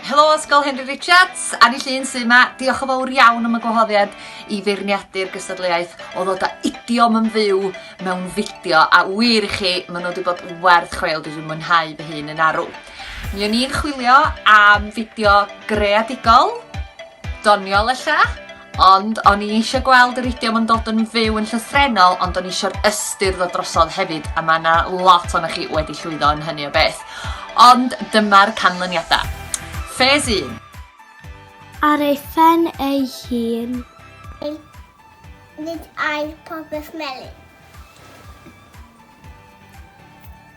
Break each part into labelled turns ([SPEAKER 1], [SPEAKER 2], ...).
[SPEAKER 1] Helo Ysgol Henry Richards, Annie Llun sy'n yma. Diolch yn fawr iawn am y gwahoddiad i feirniadu'r gystadleuaeth o ddod â idiom yn fyw mewn fideo a wir i chi, maen nhw wedi bod yn werth chweil, dwi wedi mwynhau fy hun yn arw. Mi o'n i'n chwilio am fideo greadigol, doniol ella, Ond o'n i eisiau gweld yr idiom yn dod yn fyw yn llythrenol, ond o'n i eisiau'r ystyr ddod drosodd hefyd, a mae yna lot o'na chi wedi llwyddo yn hynny o beth. Ond dyma'r canlyniadau. Ffes 1. Ar ei phen ei hun. Ei, nid ail popeth melyn.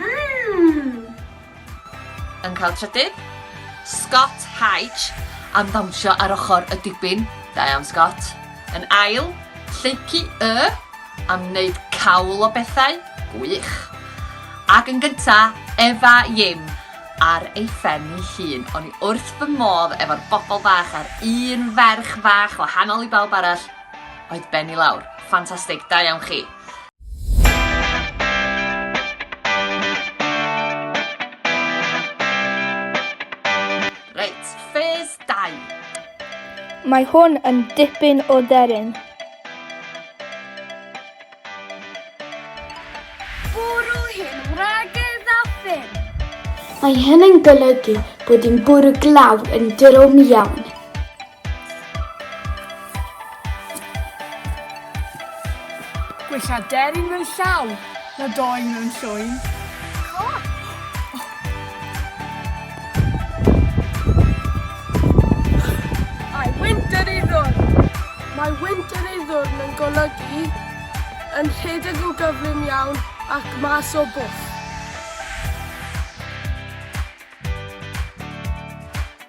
[SPEAKER 1] Mmm! Yn cael trydydd, Scott Hyge am ddawnsio ar ochr y dibyn, da iawn Scott. Yn ail, Lleucu Y am wneud cawl o bethau, gwych. Ac yn gynta, Efa Yim ar ei phen ei hun. O'n i wrth fy modd efo'r bobl fach a'r un ferch fach wahanol i bawb arall oedd ben i lawr. Ffantastig, da iawn chi. Reit, ffes 2. Mae hwn yn dipyn o deryn. Bwrw hyn wragedd Mae hyn yn golygu bod yn bwrw glaw yn drom iawn. Gwella deryn mewn llaw na doen mewn llwyn. Clap! Mae winter ei ddwrn. Mae winter ei ddwrn yn golygu yn rhedeg o gyflym iawn ac mas o bwll.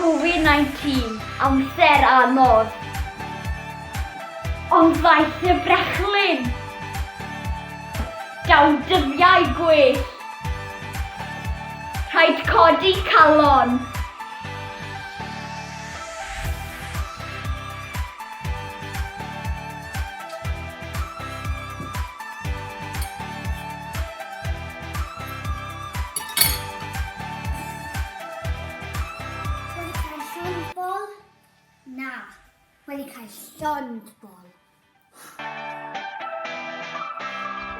[SPEAKER 1] Covid-19, amser anodd. Ond ddaeth y brechlyn. Daw dyddiau gwell. Rhaid codi calon. wedi cael llond bol.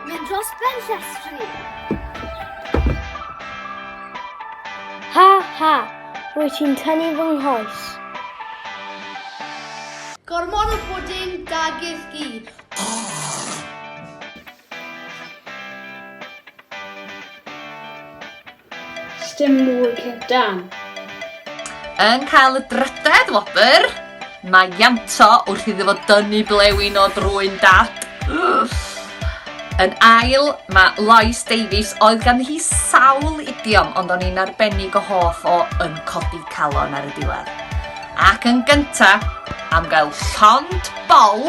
[SPEAKER 1] Mynd dros ben llestri. Ha ha, rwy ti'n tynnu fy nghoes. Gormod o pwdin da gyd. Sdim mwy cynt dan. Yn cael y drydedd wobr, mae Ianto wrth iddo fo dynnu blewyn o drwy'n dad. Yn ail, mae Lois Davies, oedd gan hi sawl idiom, ond o'n i'n arbennig o hoff o yn codi calon ar y diwedd. Ac yn gyntaf, am gael llond bol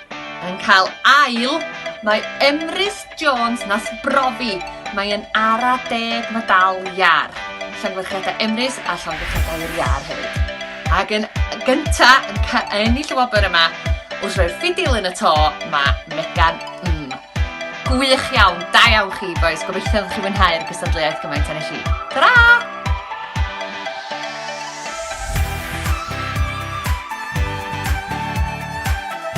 [SPEAKER 1] Yn cael ail, mae Emrys Jones nas brofi. Mae'n ara deg medal iar. Llongyfarchiadau Emrys a llongyfarchiadau i'r iar hefyd. Ac yn gynta yn ca- ennill y wobr yma, wrth roi'r ffidil yn y to, mae Megan M. Gwych iawn, da iawn chi boys, gobeithio ydych chi'n mwynhau'r gystadleuaeth gymaint â nes i. Ta-ra!